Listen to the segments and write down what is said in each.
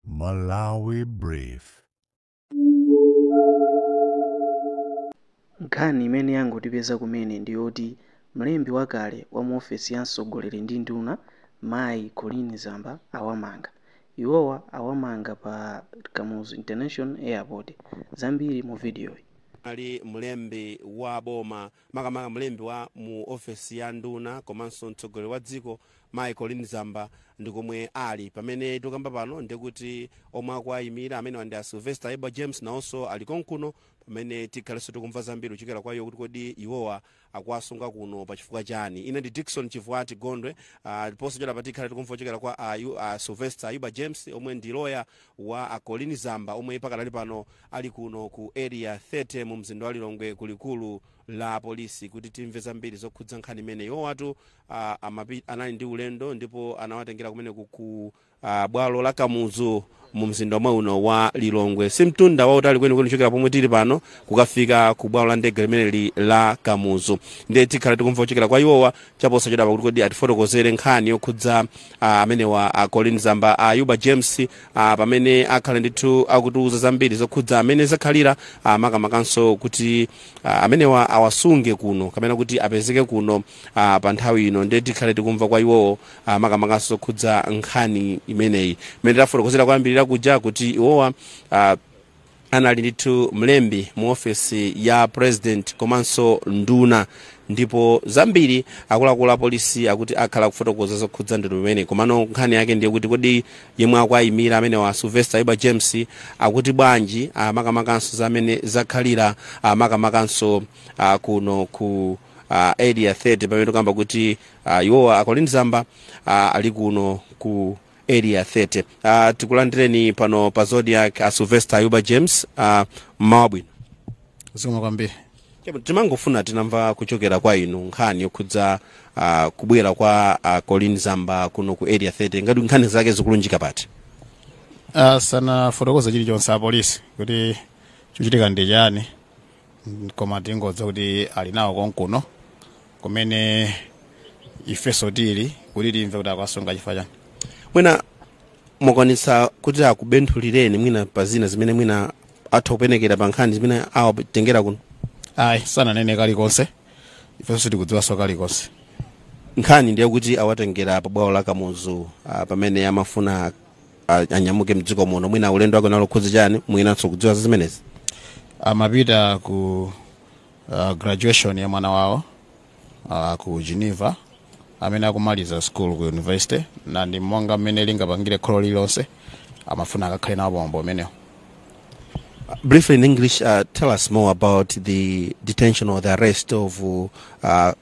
Malawi Brief. Nkhani imene yangotipeza kumene ndi yoti mlembi wakale wa mu ofesi ya mtsogoleri ndi nduna mayi Colleen Zamba awamanga. Iwowa awamanga pa Kamuzu International Airport. Zambiri mu vidiyoyi. Anali mlembi wa boma makamaka mlembi wa mu ofesi ya nduna komanso mtsogoleri wa dziko mayi colleen zamba ndi komwe ali pamene tikukamba pano ndikuti omwe akuwayimira amenewa ndi a sylvester ayuba james nawonso ali konkuno pamene tikhalenso tikumva zambiri kuchokera kwa iwo kuti kodi iwowa akuwasunga kuno pa chifukwa chani ine ndi dickson chivuati gondwe ah, ndiponso chota pa tikhale tikumva kuchokera kwa a, a sylvester ayuba james omwe ndi loya wa a colleen zamba omwe pakadali pano ali kuno ku area 30 mu mzinda wa lilongwe ku likulu la polisi kuti timve zambiri zokhudza nkhani imene iwowatu uh, amapi, anali ndi ulendo ndipo anawatengera kumeneku ku uh, bwalo la kamuzu mu mzinda omwe uno wa lilongwe si mtunda wautali kwenikweni kuchokera pomwe tili pano kukafika ku bwalo la ndege limeneli la kamuzu ndiye tikhala tikumva kuchokera kwa iwowa chaposa chodapa kuti kodi atifotokozere nkhani yokhudza uh, amenewa uh, colleen zamba ayuba uh, james ah, pamene akhala ndithu akutiuza zambiri zokhudza mmene zakhalira ah, makamakanso kuti ah, amenewa awasunge kuno kapena kuti apezeke kuno ah, pa nthawi ino ndiye tikhale tikumva kwa iwowo ah, makamakanso zokhudza nkhani imeneyi imene tafotokozera kuyambirira kuja kuti iwowa ah, anali ndithu mlembi mu ofesi ya president komanso nduna ndipo zambiri akuluakulu apolisi akuti akhala akufotokoza zokhudza ndondomeko imeneyi komano nkhani yake ndiye kuti kodi yemwe akuayimira amenewa sylvester ayuba james akuti bwanji makamakanso za mmene zakhalira makamakanso ah, kuno ku uh, area 30 pamene tikukamba kuti uh, iwowa a colleen zamba uh, ali kuno ku area 30 uh, tikulandireni pano pa zodiak a sylvester ayuba james uh, mmawa wabwino zikomo kwambiri Chabwino, timangofuna titamva kuchokera kwa inu nkhani yokhudza uh, kubwera kwa uh, colleen zamba kuno ku area 30 ngati nkhani zake zikulunjika pati sanafotokoze chilichonse apolisi kuti chochitika ndi chani koma tingodziwa kuti ali nawo konkuno kumene ifeso tili kuti timve kuti akuwasunga chifukwa chani mwina mwakwanitsa kuti akubenthulireni mwina pa zina zimene mwina atha kupenekera pa nkhani zimene awatengera kuno ayi sananene kalikonse ifeso sitikudziwanso kalikonse nkhani ndiye kuti awatengera pa bwalo la kamuzu ah, pamene amafuna a- anyamuke mdziko muno mwina ulendo wake unali okhudza chani mwinanso kudziwa za zimenezi amapita ku uh, graduation ya mwana wawo uh, ku geneva amene akumaliza school ku university ndiye ndi monga mmene lingapangire kholo lililonse amafuna akakhale nawo pamwambo umenewo briefly in english uh, tell us more about the detention or the arrest of uh,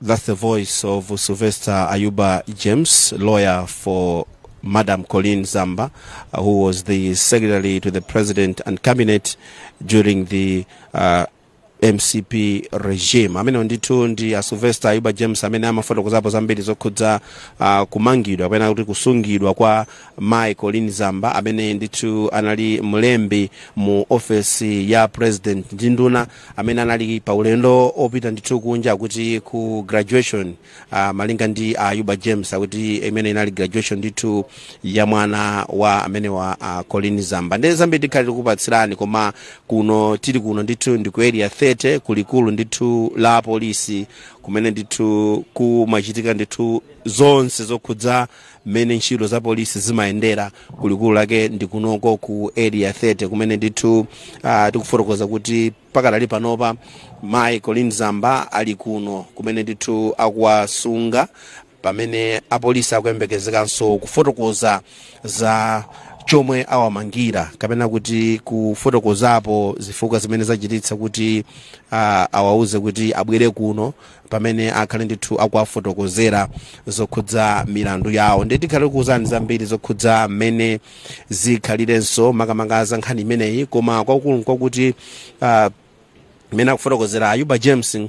That's the voice of Sylvester Ayuba James, lawyer for Madam Colleen Zamba, uh, who was the secretary to the president and cabinet during the uh, mcp regime amene ndithu ndi a sylvester ayuba james amene amafotokozapo zambiri zokhudza uh, kumangidwa kapena kuti kusungidwa kwa mai Colleen Zamba amene ndithu anali mlembi mu ofesi ya president ndi nduna amene anali pa ulendo opita ndithu kunja kuti ku graduation uh, malinga ndi a Ayuba James akuti imeneyi inali graduation ndithu ya mwana wa amene wa uh, Colleen Zamba ndiye zambiri tikhale tikupatsirani koma kuno tili kuno ndithu ndi ku area 30 kulikulu ndithu la polisi kumene ndithu kumachitika ndithu zonse zokhudza mmene ntchito za polisi zimayendera kulikulu lake ndi kunoko ku area 30 kumene ndithu uh, tikufotokoza kuti pakadali panopa mayi Colleen Zamba ali kuno kumene ndithu akuwasunga pamene apolisi akuyembekezekanso kufotokoza za chomwe awamangira kapena kuti kufotokozapo zifukwa zimene zachititsa kuti uh, awauze kuti abwere kuno pamene akhale ndithu akuwafotokozera zokhudza milandu yawo ndiye tikhale tikuuzani zambiri zokhudza mmene zikhalirenso makamaka za nkhani imeneyi koma kwakukulu nkwakuti uh, mmene akufotokozera ayuba james uh,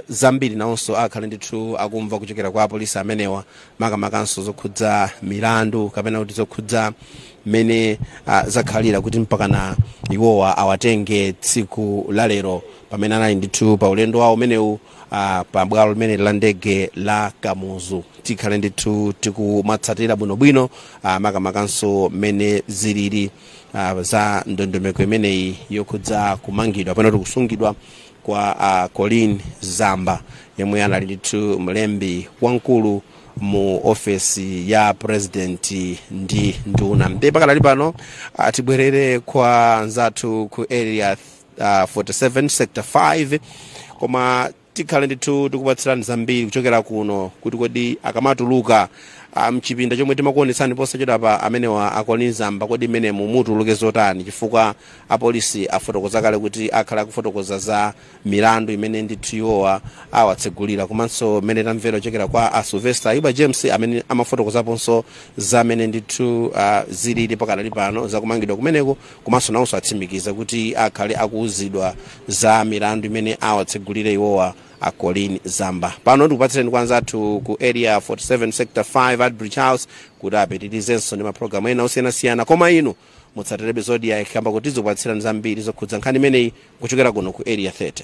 zambiri nawonso akhale ndithu akumva kuchokera kwa apolisi amenewa makamakanso zokhudza milandu kapena kuti zokhudza mmene uh, zakhalira kuti mpakana iwowa awatenge tsiku lalero pamene anali ndithu pa ulendo wawo umenewu ah, pa bwalo limeneli la ndege la Kamuzu tikhale ndithu tikumatsatira bwinobwino ah, makamakanso mmene zilili ah, za ndondomeko imeneyi yokhudza kumangidwa kapena kuti kusungidwa kwa ah, Colleen Zamba yemwe anali ndithu mlembi wamkulu mu ofesi ya president ndi nduna ndiye pakadali pano ah, tibwerere kwa nzathu ku area area 47 sector 5 koma tikhale ndithu tikupatsirani zambiri kuchokera kuno kuti kodi akamatuluka ah, mchipinda chomwe timakuonetsani posachedwapa amenewa a Colleen Zamba kodi mmenemu mutuluke zotani chifukwa apolisi afotokoza kale kuti akhala akufotokoza za milandu imene ndithu iwowa awatsegulira komanso mmene tamvera kuchokera kwa a sylvester ayuba james amene amafotokozaponso za mmene ndithu ah, zilili pakadali pano zakumangidwa kumeneko komanso nawonso atsimikiza kuti akhale akuuzidwa za milandu imene awatsegulire iwowa a Colleen Zamba pano ndikupatsireni kwa anzathu ku area 47 sector 5 Artbridge House kuti apitirizenso ndi mapulogalamu ena osiyanasiyana koma inu mutsatirebe Zodiak kamba kuti tizikupatsirani zambiri zokhudza nkhani imeneyi kuchokera kuno ku area 30